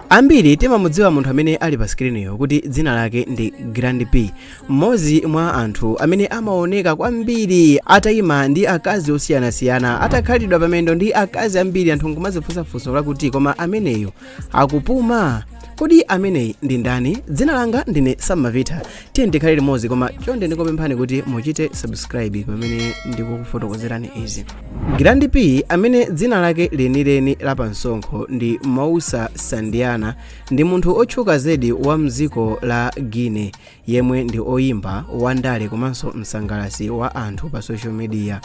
Ambiri timamudziwa munthu amene ali pa sikiliniyo kuti dzina lake ndi Grand P, mmodzi mwa anthu amene amaoneka kwambiri ataima ndi akazi osiyanasiyana, atakhalidwa pamendo ndi akazi ambiri, anthu nkumadzifunsa funso lakuti koma ameneyo akupuma? Kodi ameneyi ndi ndani? Dzina langa ndine Sam Mavitha tiyeni tikhale limodzi koma chonde ndikupemphani kuti muchite subscribe pamene ndikukufotokozerani izi grand p amene dzina lake lenileni la pansonkho ndi Moussa Sandiana ndi munthu otchuka zedi wa mdziko la Guinea yemwe ndi oyimba wandale komanso msangalasi wa anthu pa social media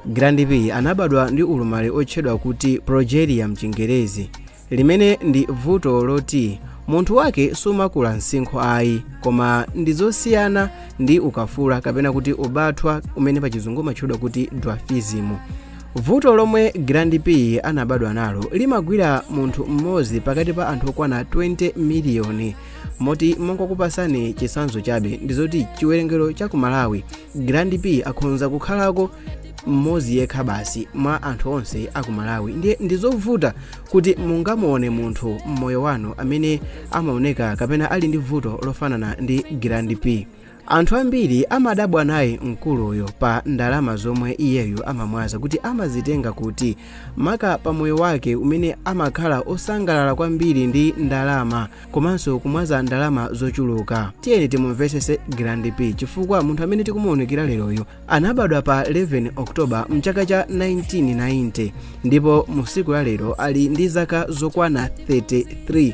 Grand P anabadwa ndi ulumali otchedwa kuti progeria mchingerezi limene ndi vuto loti munthu wake sumakula msinkhu ayi koma ndi zosiyana ndi ukafula kapena kuti ubathwa umene pachizungu umatchedwa kuti dwarfism vuto lomwe Grand P anabadwa nalo limagwira munthu mmodzi pakati pa anthu okwana 20 miliyoni moti mongokupasani chisanzo chabe ndizoti chiwerengero cha ku malawi grand p akhonza kukhalako mmodzi yekha basi mwa anthu onse aku malawi ndiye ndizovuta kuti mungamuone munthu mmoyo wanu amene amaoneka kapena ali ndi vuto lofanana ndi grand p anthu ambiri amadabwa naye mkuluyo pa ndalama zomwe iyeyo amamwaza kuti amazitenga kuti maka pa moyo wake umene amakhala osangalala kwambiri ndi ndalama komanso kumwaza ndalama zochuluka tiyeni timumvesese grand p chifukwa munthu amene tikumuwunikira leroyu anabadwa pa 11 oktoba mchaka cha 1990 ndipo mu siku la lero ali ndi zaka zokwana 33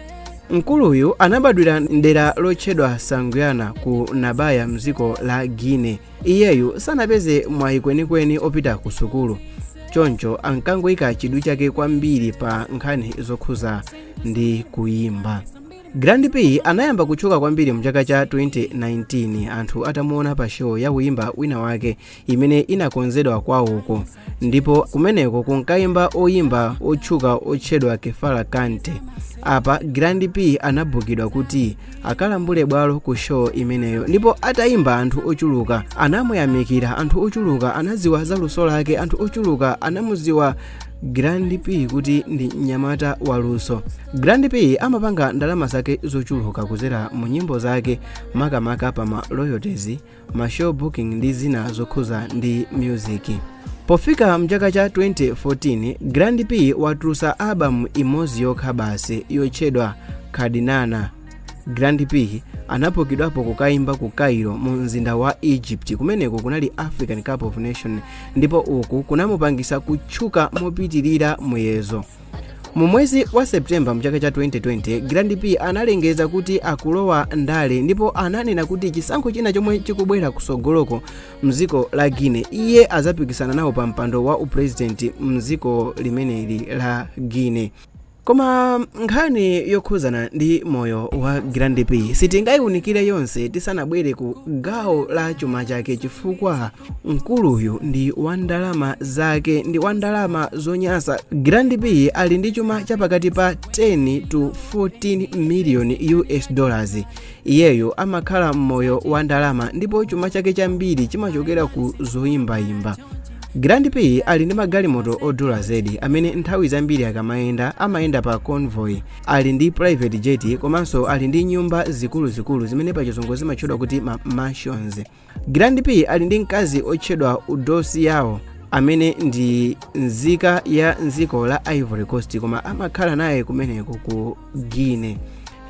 mkuluyu anabadwira mdera lotchedwa Sanguiana ku nabaya mdziko la Guinea iyeyu sanapeze mwayi kwenikweni opita ku sukulu choncho ankangoyika chidwi chake kwambiri pa nkhani zokhuza ndi kuyimba grand p anayamba kutchuka kwambiri mchaka cha 2019 anthu atamuona pa show ya oyimba wina wake imene inakonzedwa kwawoko ndipo kumeneko kunkayimba oyimba otchuka otchedwa Kerfala Kante apa grand p anabukidwa kuti akalambule bwalo ku show imeneyo ndipo atayimba anthu ochuluka anamuyamikira anthu ochuluka anaziwa za luso lake anthu ochuluka anamuziwa grand p kuti ndi mnyamata waluso grand p amapanga ndalama zake zochuluka kuzera mu nyimbo zake makamaka pa ma royalties ma show booking ndi zina zokhuza ndi music pofika mchaka cha 2014 grand p watulusa album imodzi yokha basi yotchedwa kadinana grand p anapokidwapo kukayimba ku cairo mu mzinda wa egypt kumeneko kunali african cup of nation ndipo uku kunamupangisa kutchuka mopitirira muyezo mu mwezi wa septemba mchaka cha 2020 grand p analengeza kuti akulowa ndale ndipo ananena kuti chisankho china chomwe chikubwera kusogoloko mdziko la guinea iye azapikisana nawo pa mpando wa uprezidenti mdziko limeneli la guinea Koma nkhani yokhuzana ndi moyo wa Grand P sitingaiunikire yonse tisanabwere ku gawo la chuma chake chifukwa mkuluyu ndi wa ndalama zake ndi wa ndalama zonyasa. Grand P ali ndi chuma cha pakati pa 10 to 14 million US dollars Iyeyo amakhala m'moyo wa ndalama ndipo chuma chake chambiri chimachokera ku zoyimbayimba. Grand P ali ndi magalimoto odula zedi amene nthawi zambiri akamayenda amayenda pa convoy, ali ndi private jet komanso ali ndi nyumba zikuluzikulu zimene pachizungu zimatchedwa kuti ma mansions. Grand P ali ndi mkazi otchedwa Eudoxie Yao amene ndi nzika ya nziko la Ivory Coast koma amakhala naye kumeneko ku Guinea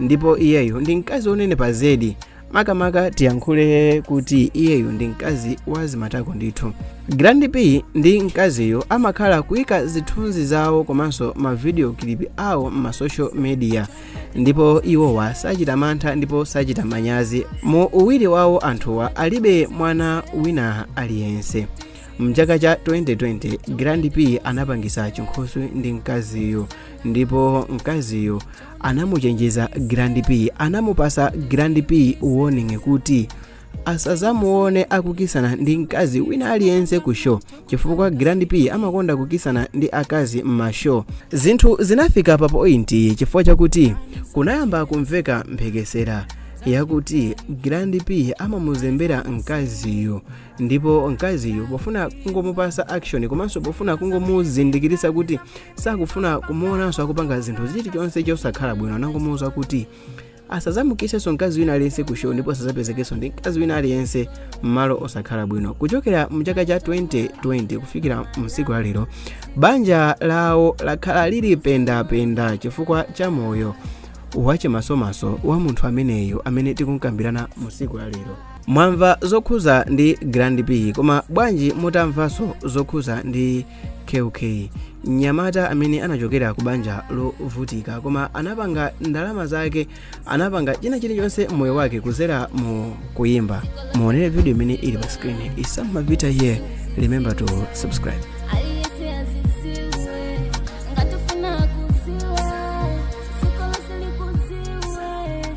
ndipo iyeyo ndi mkazi onenepa zedi makamaka tiyankhule kuti iyeyo ndi mkazi wa zimatako ndithu Grand P ndi mkaziyo amakhala kuika zithunzi zawo komanso mavideo clip awo m'masocial media ndipo iwowa sachita mantha ndipo sachita manyazi mu uwiri wawo anthuwa alibe mwana wina aliyense mchaka cha 2020 grand p anapangisa chinkhoswe ndi mkaziyo ndipo mkaziyo anamuchenjeza grand p anamupasa grand p warning kuti asazamuone akukisana ndi mkazi wina aliyense ku show chifukwa grand p amakonda kukisana ndi akazi m'mashow zinthu zinafika pa point chifukwa chakuti kunayamba kumveka mphekesera yakuti grand p amamuzembera mkaziyo ndipo mkaziyo pofuna kungomupasa action komanso pofuna kungomuzindikirisa kuti sakufuna kumuonanso akupanga zinthu chilichonse chosakhala bwino anangomuuza kuti asazamukisenso mkazi wina aliyense ku show ndipo asazapezekenso ndi mkazi wina aliyense m'malo osakhala bwino kuchokera mchaka cha 2020 kufikira msiku la lero banja lawo lakhala lili pendapenda chifukwa cha moyo wachimasomaso wa munthu ameneyo amene tikumkambirana msiku la lero mwamva zokhuza ndi grand p koma bwanji mutamvanso zokhuza ndi kk mnyamata amene anachokera ku banja lovutika koma anapanga ndalama zake anapanga china chilichonse mmoyo wake kuzera mu kuyimba muonere video imene ili pa screen Isama Vita here remember to subscribe Aliyense adziwe, ngati ufuna kudziwa, dziko lonse likudziwe.